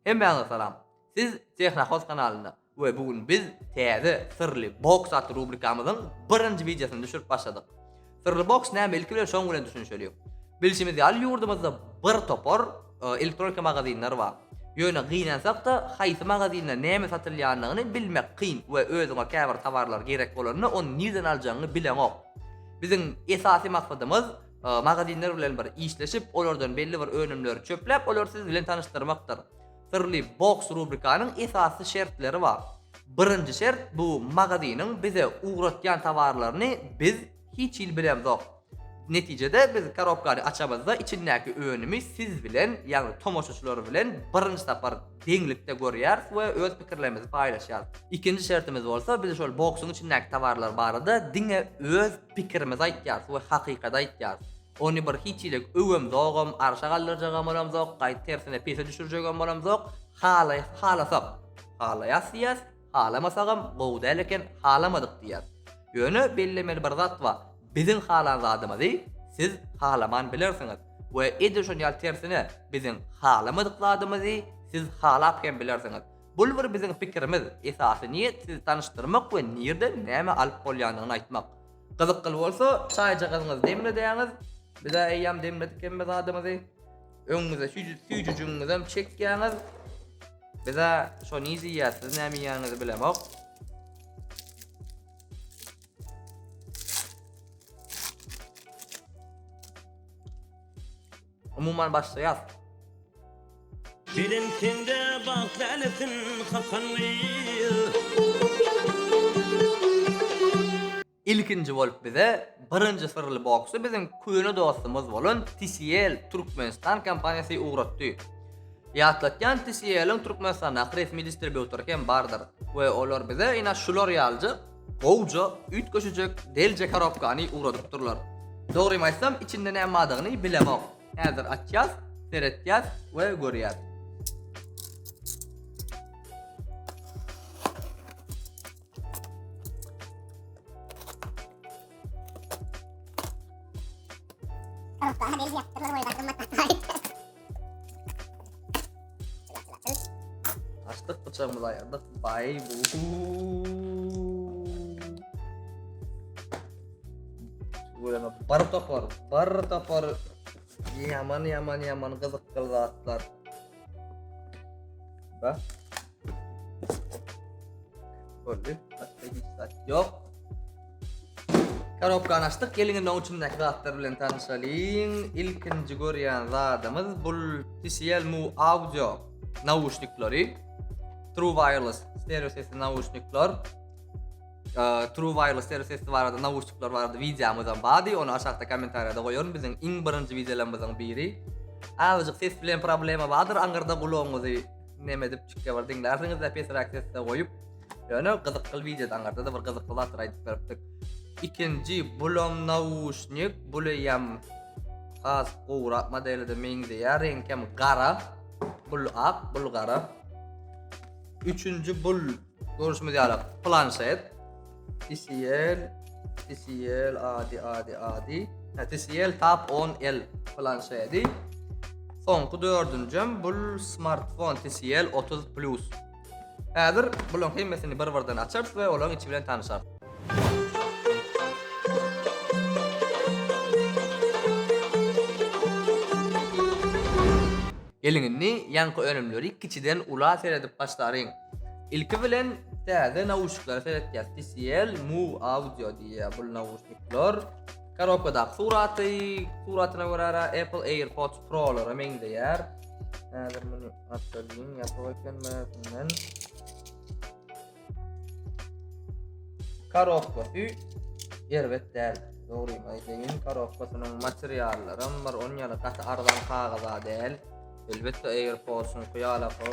Hemmäňize salam! Siz Tehrahost kanalynda we bu gün biz täze Syrly boks atly rubrikamyzyň birinji wideosyny düşürip başladyk. Syrly boks näme ilki bilen şoň bilen düşünişeliň. Bilşimiz ýaly ýurdumyzda bir topar elektronika magazinler bar. Ýöne gynansakda haýsy magazinde näme satylýanyny bilmek kyn we özüňe käbir tawarlar gerek bolanda ony nirden aljagyňy bileňok. Biziň esasy maksadymyz magazinler bilen bir işleşip, olardan belli bir önümleri çöpläp, olary siz bilen tanyşdyrmakdyr. Syrly boks rubrikanyň esasy şertleri bar. Birinji şert, bu magaziniň bize ugratýan towarlaryny biz hiç hili bilemzok. Netijede, biz korobkany açamyzda, içindäki önümi siz bilen, ýagny tomaşaçylar bilen birinji sapar deňlikde görýäris we öz pikirlerimizi paýlaşýarys. Ikinji şertimiz bolsa, biz şol boksuň içindäki towarlar barada diňe öz Pikirimizi aýtýarys we hakykady aýtýarys. Ony bir hiç hileg öwem zogam, arşa galdyrjagam bolamzok, gaýt tersine pese düşürjegem bolamzok. Halaýas halasak, halaýas diýýäs, halamasagam gowy däl eken, halamadyk diýýäs. Ýöne bellemeli bir zat bar, biziň halan zadymyzy siz halaman bilersiňiz we edil şon ýaly tersine biziň halamadyk zadymyzy siz halap hem bilersiňiz. Bul bir biziň pikirimiz, esasy niýet sizi tanyşdyrmak we nirden näme alyp bolýandygyny aýtmak. Gyzykly bolsa, çaýjagazyňyzy demledäňiz, biz-ä eýýäm demledik hemme zadymyzy, öňüňize süýjüjigiňizem çekýäňiz, biz-ä şony iýýäs, siz näme iýýäniňizi bilemok. Umuman başlaýas. Belent sende bagt lälesin kakan Ilkinji bolup bize birinji syrly boksy biziň köne dostumyz bolan TCL Türkmenistan kompaniýasy ugratdy. Ýatlatýan TCL-iň Türkmenistandaky resmi distribýutory hem bardyr we olar bize ina şular ýalyjyk Gowja üýtgeşijek delje karobkany ugradypdyrlar. Dogrymy aýtsam içinde näme bardygyny bilemok. Häzir açýas, seretýäs we görýäs. Karobka delje ýapypdyrlar we gymmat bahaýyt. Açdyk bıçağımızı ayardık. Bay Böyle bar tapar, bar tapar. Yaman yaman yaman kızık kılgatlar. Bak. Gördük. Başka hiç zat yok. Karobkany açdyk. Gelin indi onun içindeki zatlar bilen tanışalyň. İlkinci görýän zadymız bu TCL Move Audio nauşnikleri. True Wireless stereo sesli nauşnikler. Ee, True Wireless stereo sesli barada nauşnikler barada videomuz hem bady. Onu aşağıda kommentariyada koyarım. Bizim iň birinci videolarımızın biri. Azıcık ses bilen problema vardır. Angırda kulağımızı neme edip çykýar bir diňlärsiňiz-de pesräk sesde goýup. Ýöne gyzykly wideoda aňarda-da bir gyzykly zatlar aýdyp beripdik. Ikinji bulam nauşnik, buleýem has gowrak modelde meňzeýär, reňkem gara. Bul ak, bul gara. Üçünji bul Görüşimiz ýaly planşet, TCL, TCL, adi, adi, adi. Ha, TCL Tab 10L planşedi. Soňky dördünjem bul smartfon TCL 30 Plus. Häzir bularyň hemmesini bir-birden açarys we olaryň içi bilen tanyşarys. Geliň indi ýaňky önümleri kiçiden ula seredip başlaryň. Ilki bilen täze nauşniklara seretýäs. TCL Move Audio diýýär bu nauşnikler. Korobkadaky suraty, suratyna görä Apple AirPods Pro-lara meňzeýär. Häzir muny açalyň, ýapyk eken mäzinden. Korobkasy erbet däl. Dogry aýdaýyn, korobkasynyň materiallaram bir on ýaly gaty arzan kagyza däl. Elbetde AirPods-yň hyýalaky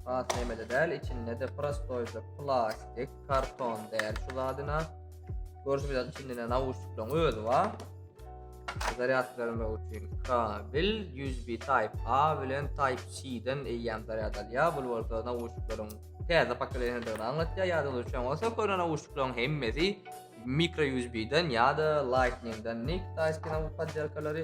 has nemede däl, içinde-de prostoýja plastik, karton däl şu zadyna. Görşüňizde içinde nauşnikleriň özi bar. Zaryad bermek üçin kabel USB Type A bilen Type C-den eýýäm zaryad alýar. Bu bolsa nauşnikleriň täze pokoleniýadygyny aňlatýar. Ýadyňyzda düşen bolsa, köne nauşnikleriň hemmesi mikro USB-den ýa-da Lightning-den nik taýski nauşnik poddelkalary.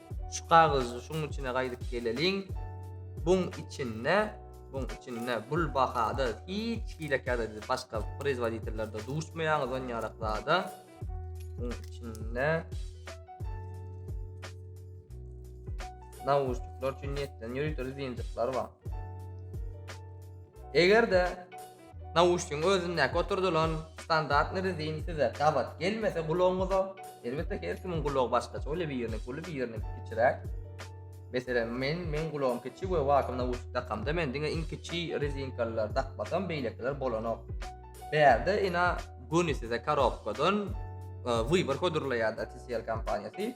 Şu kagyzy şuň içine gaýdyp geleliň. Buň içinde, buň içinde bul bahada hiç hilekerde siz başga prezwoditellerde duşmaýaňyz on ýarak zada. Buň içinde Nawuşlar üçin niýetlenen ýörite zinjikler bar. Eger-de Nauşnigiň özündäki oturdylan standartny rezin size gabat gelmese gulagyňyza, elbetde her kimiň gulagy başgaça bolýar, biriniňki uly, biriniňki kiçiräk. Meselem, men, meň gulagym kiçi we wagtam nauşnik dakamda men diňe iň kiçi rezinkalylary dakmasam, beýlekiler bolanok. Bärde ina göni size korobkadan e, wybor hödürleýärdi TCL kompaniýasy.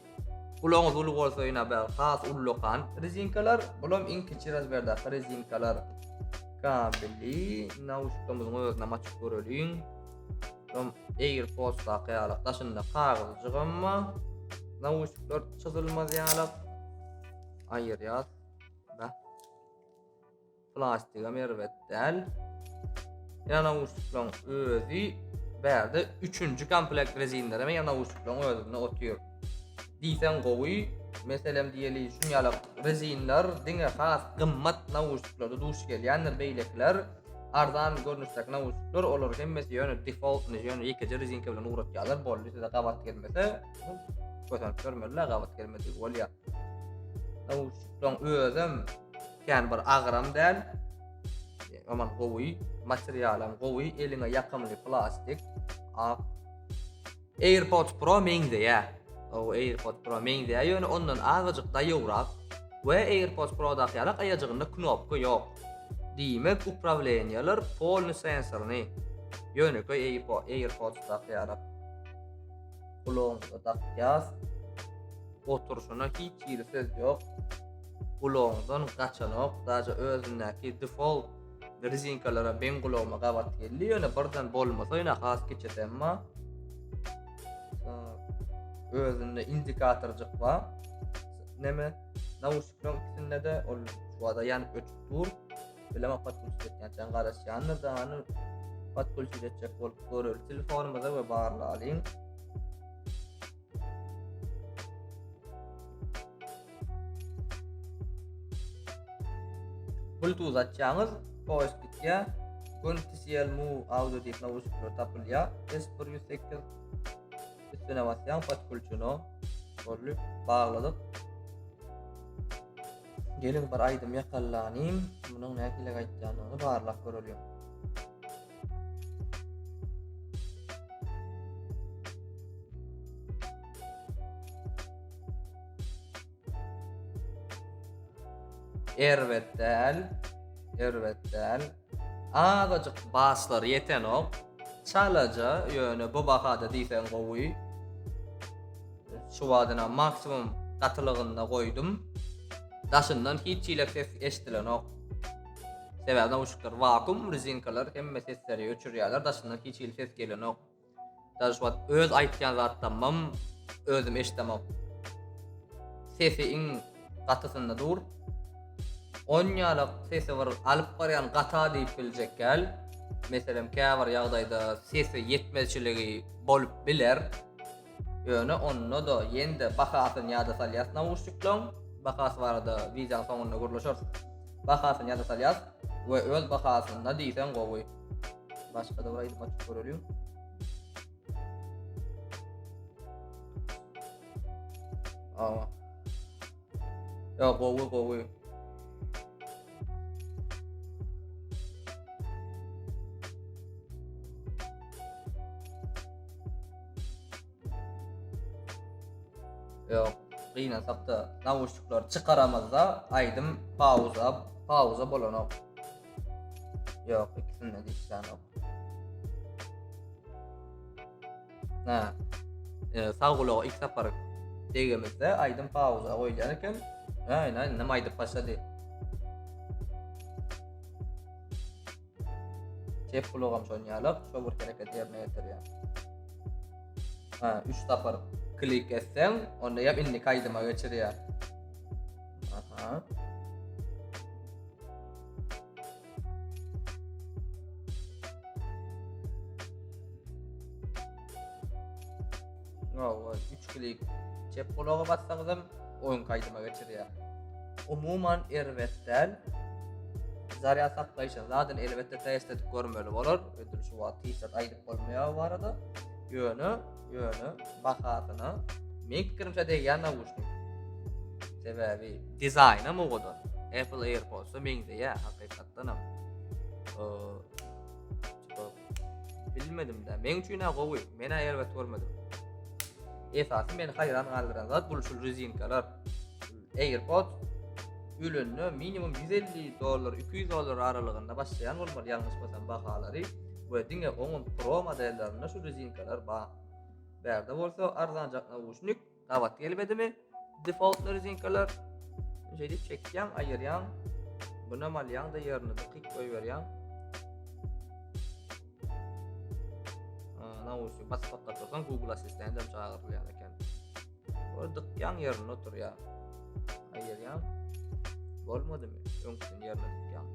Gulagyňyz uly bolsa ýene bir has ullakan rezinkalar, bulam iň kiçi razmerdaky rezinkalar. Kabeli nauşnikamyzyň özüne maçyp göreliň. Bulam AirPods daky ýaly daşynda kagyzjyk emma nauşnikler çyzylmaz ýaly. Aýyrýas. Bä. Plastigam erbet däl. Ýa nauşniklaryň özi bärde üçünji komplekt rezinlerem ýa nauşniklaryň özünde otyr. Diýseň gowy, meselem diýeli şun ýaly rezinler diňe has gymmat nauşniklarda duş gelýändir, beýlekiler arzan görnüşdäki nauşnikler, olar hemmesi ýöne default, ýöne ýekeje rezinka bilen ugratýarlar, boldy size gabat gelmese, göterip görmeliler, gabat gelmedigi bolýar. Nauşnikleň özem kän bir agram däl. Aman gowy, materialam gowy, eliňe ýakymly plastik. Ak. AirPods Pro meňzeýär. O AirPods Pro meňzeýär, ýöne ondan azajyk daýowrak we AirPods Pro-daky ýaly aýajygynda knopka ýok. Diýmek, uprawleniýalar polny sensorny. Ýönekeý AirPods-daky ýaly. Gulagymyza dakýas. Oturşyna hiç hili söz ýok. Gulagymdan gaçanok. Daja özündäki default rezinkalara ben gulagyma gabat geldi. Ýöne birden bolmasa ýöne has geçesem ma. Özünde indikatorjyk ba. Neme? Nawuşyklaryň ikisinde de ol şu wada ýanyp öçüp dur. Bilema podkulçylyk etýänçäň garaşýandyr da, hany podkulçylyk etjek bolup göreli. Telefonymyza we barlalyň. Bluetooth açýaňyz, poýuz gitýä. Gun TCL Move audio diýip nawuşnikler tapylýa. S108 üstüne basýaň, podkulçyny. Bolly, bagladyk. Geliň bir aýdym ýakalanyň munyň nähili gaýtýanyny barlap göreliň. Erbet däl, erbet däl. Azajyk baslary ýetenok. Çalaja ýöne bu bahada diýseň gowy. Şu badyna maksimum gatylygynda goýdum. Daşyndan hiç hile ses eşdilenok. Sebäbi nauşnikler wakum, rezinkalar hemme sesleri öçürýärler, daşyndan hiç hili ses gelenok. Dal şu wagt öz aýtýan zatlamym özüm eşdemok. Sesi iň gatysynda dur. On ýalak sesi bir alyp barýan gata diýip biljek gel. Meselem käbir ýagdaýda sesi ýetmezçiligi bolup biler. Ýöne onda-da ýene-de bahasyny ýada salýas nauşniklaň bahasy barada wideoň soňunda gürleşeris. Bahasyny ýada salýas we öz bahasynda diýseň gowy. Başga-da bir aýdym açyp göreliň. Awa. Ýa gowy gowy. Ýok, gynansakda nawuşnikler çykaramazda aýdym pauza, pauza bolanok. Ýok, ikisinde de işlänok. Hä. E, sag gulaga ilk sapar degemizde aýdym pauza goýulýan eken. Aýn aýn näme aýdyp başlady. Çep gulagam şon ýalyk, şo bir hereket ýerine ýetirýär. Hä, 3 sapar klik etseň, onda ýa indi aýdyma geçirýär. Aha. No, o, üç klik. Çep kulaga bassaňyzam oyun kaydıma geçirýär. Umuman erbet däl. Zarýad saklaýşy zaten elbetde test edip görmeli bolar. Ödül şu wagt hiç zat aýdyp bolmaýar bu barada. Ýöne Ýöne bahasyna men pikirimçe degýän nawuşnik. Sebäbi dizaýnam owadan. Apple AirPods-a meňzeýär hakykatdan hem. Bilmedim-de, men üçin hem gowy. Men aýer we görmedim. Esasy meni haýran galdyran zat bu şu rezinkalar. AirPods ölende minimum 150 dollar 200 dollar aralygynda başlaýan bolmaly ýalňyş bolsam bahalary we diňe oňun pro modellerinde şu rezinkalar bar. Bärde bolsa arzanjak nauşnik gabat gelmedimi? Default rezinkalar şeýdip çekýän, aýyrýan. Buna malýan da ýerini dikyk goýberýän. Nauşnik basmakda tursan Google Assistant hem çagyrylýar eken. Ordyk ýan ýerinde oturýar. Aýýar ýan. Bolmadymy? Öňküsini ýerine tutýan.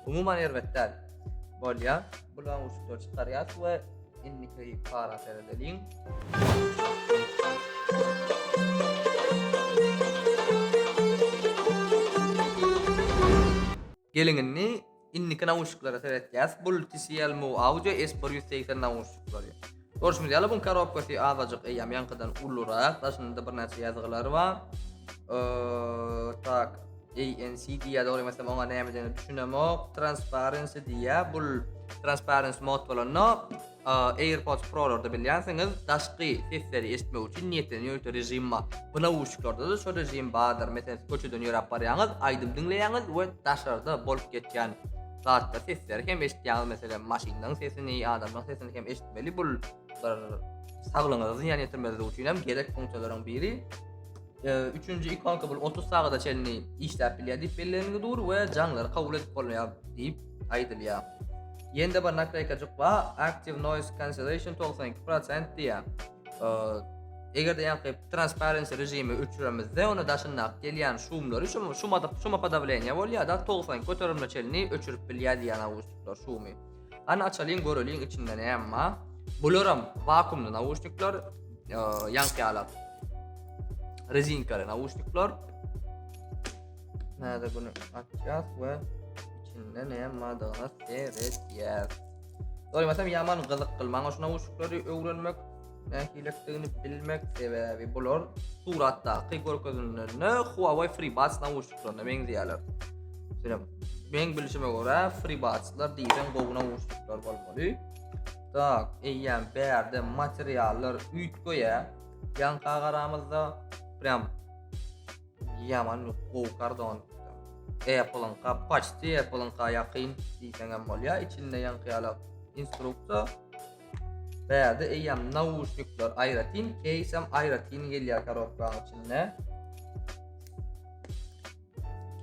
Umuman erbet däl. Bolýar. Bulaň uçuklar çykarýas we indiki para seredeliň. Geliň indi indiki nauşniklara seretýäs. Bul TCL Move Audio S bir ýüz segsen nauşniklary. Görşüňiz ýaly buň karobkasy azajyk eýýäm ýaňkydan ulurak. Daşynda birnäçe ýazgylar bar. tak ANC diýýär dogry ýamasam oňa näme diýenini düşünemok. Transparency diýýär. Bul transparency mod bolanda AirPods Pro-larda bilýänsiňiz, daşky sesleri eşitmek üçin niýetlenen ýörite režim bar. Bu nauşniklarda-da şo režim bardyr. Meselem, siz köçeden ýöräp barýaňyz, aýdym diňleýäňiz we daşarda bolup geçýän zatda sesleri hem eşitýäňiz. Meselem, maşynlaryň sesini, adamlaryň sesini hem eşitmeli. Bul saglygyňyza zyýan ýetirmezligi üçin hem gerek funksiýalaryň biri. Üçünji ikonka bul 30 sagada çenli işläp bilýär diýip bellenildi dur we jaňlary kabul edip bolýar diýip aýdylýar. Ýende bir naklaýkajyk we active noise cancellation 92% diýär. Eger de ýa-da transparency režimi öçüremizde, onda daşynda gelýän şumlary şu şu madyk şu mapada bilen ýa bolýar da 90 göterimli çenli öçürip bilýär diýýär awustlar şumy. Gany açalyň göreliň içinde näme bar. Bularam vakuumly nauşnikler, ýaňkýalap. Rezinkaly nauşnikler. Näde bunu açýas we içinde näme bardygyna seredýäs. Doýmasam ýaman gyzyk kylmaň şu nauşnikleri öwrenmek. Nähilidigini bilmek sebäbi bular suratdaky görkezilenlerine Huawei FreeBuds nauşniklaryna meňzeýärler. Şeýle men bilşime görä FreeBuds-lar diýen gowy nauşniklar bolmaly. Tak, eýýäm bärde materiallar üýtgeýä. Ýanka garamyzda prям ýaman gowy kardon. Apple-yň kapaçdy, Apple-yň kaýakyn diýseňem bolýar. Içinde ýanka ýalak instruktor Bärde eýýäm nauşnikler aýratyn, keýs hem aýratyn gelýär korobkanyň içinde.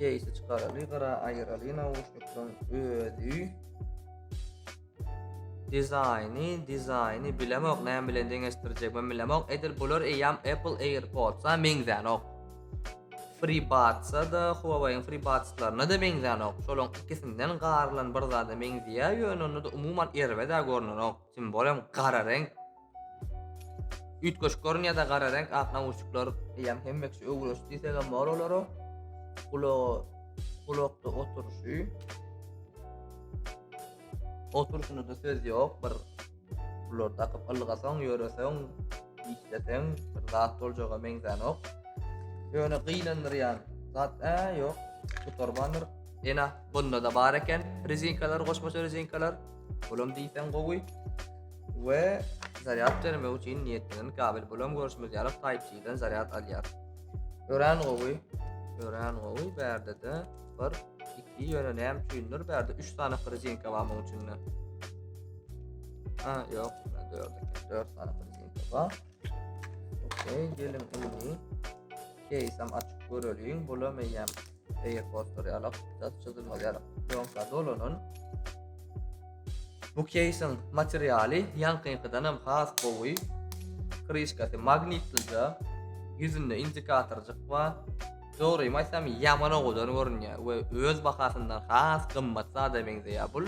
Keýsi çykaraly, gara aýyraly nauşnikleň özi. Dizaýny, dizaýny bilemok, näme bilen deňeşdirjek, men bilemok. Edil bular eýýäm Apple AirPods-a meňzänok. FreeBuds-a-da, Huawei-iň FreeBuds-laryna-da meňzänok. Şolaryň ikisinden garylan bir zada meňzeýär, ýöne onda-da umuman erbet-ä görneronk. Tim bolem gara reňk. Üýtgeşik görünýär-dä gara reňk, ak nauşnikler. Eýýäm hemme kişi öwrenişdi diýsegem bor olara. Gulaga gulakda oturyşy. Oturyşyna-da söz ýok, bir Bular dakyp ylgasaň, ýöreseň, işleseň bir zat boljaga meňzänok. Ýöne gynandyrýan zat ä ýok. Gutarmandyr. Ýene bunda da bar eken rezinkalar, goşmaça rezinkalar. Bulam diýseň gowy. We zaryad bermek üçin niýetlenen kabel. Bulam görüşimiz ýaly Type-C-den zaryad alýar. Örän gowy. Örän gowy. Bärde de bir 2 ýöne näme üçindir bärde 3 sany frizinka bar munuň içinde. Ha, ýok, 4 eken. 4 sany frizinka bar. Okey, geliň indi. Keýsem açyp göreliň. Bula meýem eýe poster ýalak, çat çyzylma ýalak. Ýoksa dolanyn. Bu keýsiň materialy ýankyňkydan hem has gowy. Krişkasy magnitlice, ýüzünde indikatorjyk bar. Dogrymy aýtsam ýaman owadan görünýär we öz bahasyndan has gymmat zada meňzeýär bul.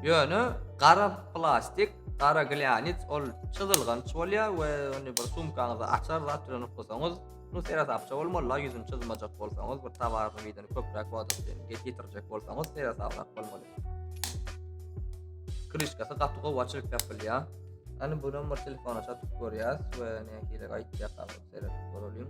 Ýöne gara plastik, gara glýanit ol çyzylganç bolýar we ony bir sumkaňyza açar zat bilen uklasaňyz, nu seresapça bolmaly-la ýüzüni çyzmajak bolsaňyz, bir towaryň yzyny köpräk wagt üçin ýitirjek bolsaňyz seresaplap bolmaly. Kryşkasy gaty gowy açylyp ýapylýar. Ýani buram bir telefona çatyp görýäs we nähili gaýtýar seret göreliň.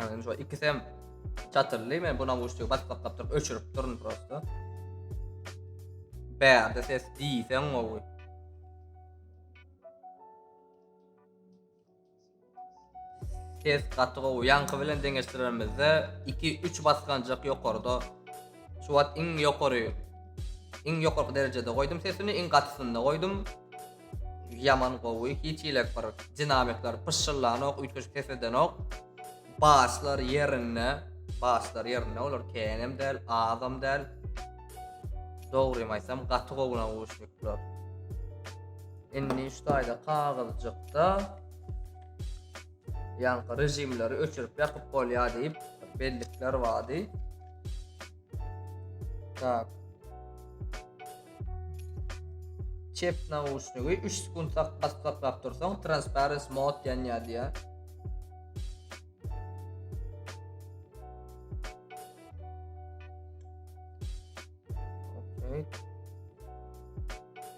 Yani şu ikisi hem çatırlı mı? Buna uçtu. Bak bak bak durup öçürüp durun prosto. Berde ses diysen oğul. Ses gaty gowy. Ýaňky bilen deňeşdiremizde iki, üç basganjak ýokarda. Şu wagt iň ýokary, iň ýokarky derejede goýdum sesini, iň gatysyny goýdum. Ýaman gowy. Hiç ilek bir dinamikler pyşşyllanok, üýtgeşik ses edenok. Baslar ýerinde, baslar ýerinde. Olar kenem däl, azam däl. Dogrymy aýtsam, gaty gowy nauşnikler. Indi şu taýda kagyzjykda ýaňky režimleri öçürip ýakyp bolýar diýip bellikler bardy. Tak. Çep nauşnigi 3 sekund tak bassaklap dursaň transparence mode ýanýar diýär. Okay.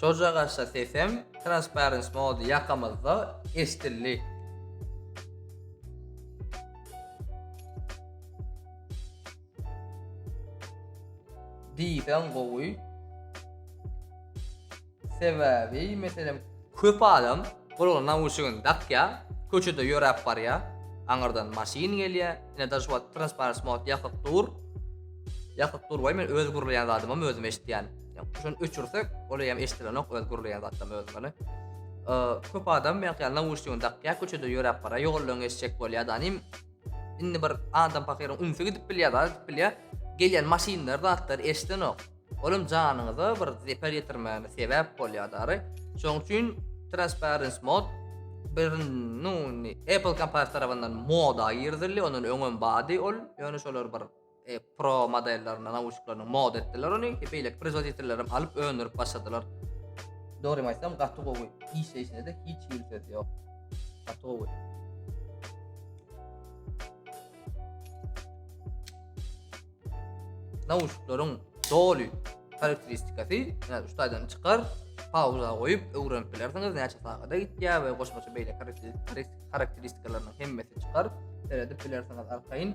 Şojagaça sesem Transparence Mode ýakamyzda eşdildi. diýseň gowy. Sebäbi, meselem, köp adam gulagyna nauşnigini dakýa, köçede ýöräp barýa, aňyrdan maşyn gelýä, ine daş wagt transparens mod ýakyp dur. Ýakyp dur goý men öz gürleýän zadymam özüm eşitýän. Ýa şony öçürsek, ol eýem eşidilenok öz gürleýän zatym özümi. Köp adam belki ýa nauşnigini dakýar, köçede ýöräp bara ýoldan geçjek bolýar da nim. Indi bir adam pakyryň ünsi gidip bilýär, zat gidip bilýär. Gelýän maşynlar zatlar eşidenok. Olam janyňyza bir zeper ýetirmäne sebäp bolýar dary. Şoň üçin transparence mod bir nu Apple kompaniyasy tarapyndan moda girizildi, ondan öňem bady ol. Ýöne şolar bir Pro modellerine nauşniklaryny mod etdiler ony. Beýleki prezoditellerem alyp öndürip başladylar. Dogrymy aýtsam gaty gowy. Işleýşine-de hiç hili söz ýok. Gaty gowy. Nauşniklaryň doly karakteristikasy, ýa-da ustadan çykar, pauza goýup öwrenip bilersiňiz näçe sagada gitýär we goşmaça beýle karakteristikalarynyň hemmesi çykar. Seredip bilersiňiz arkaýyn.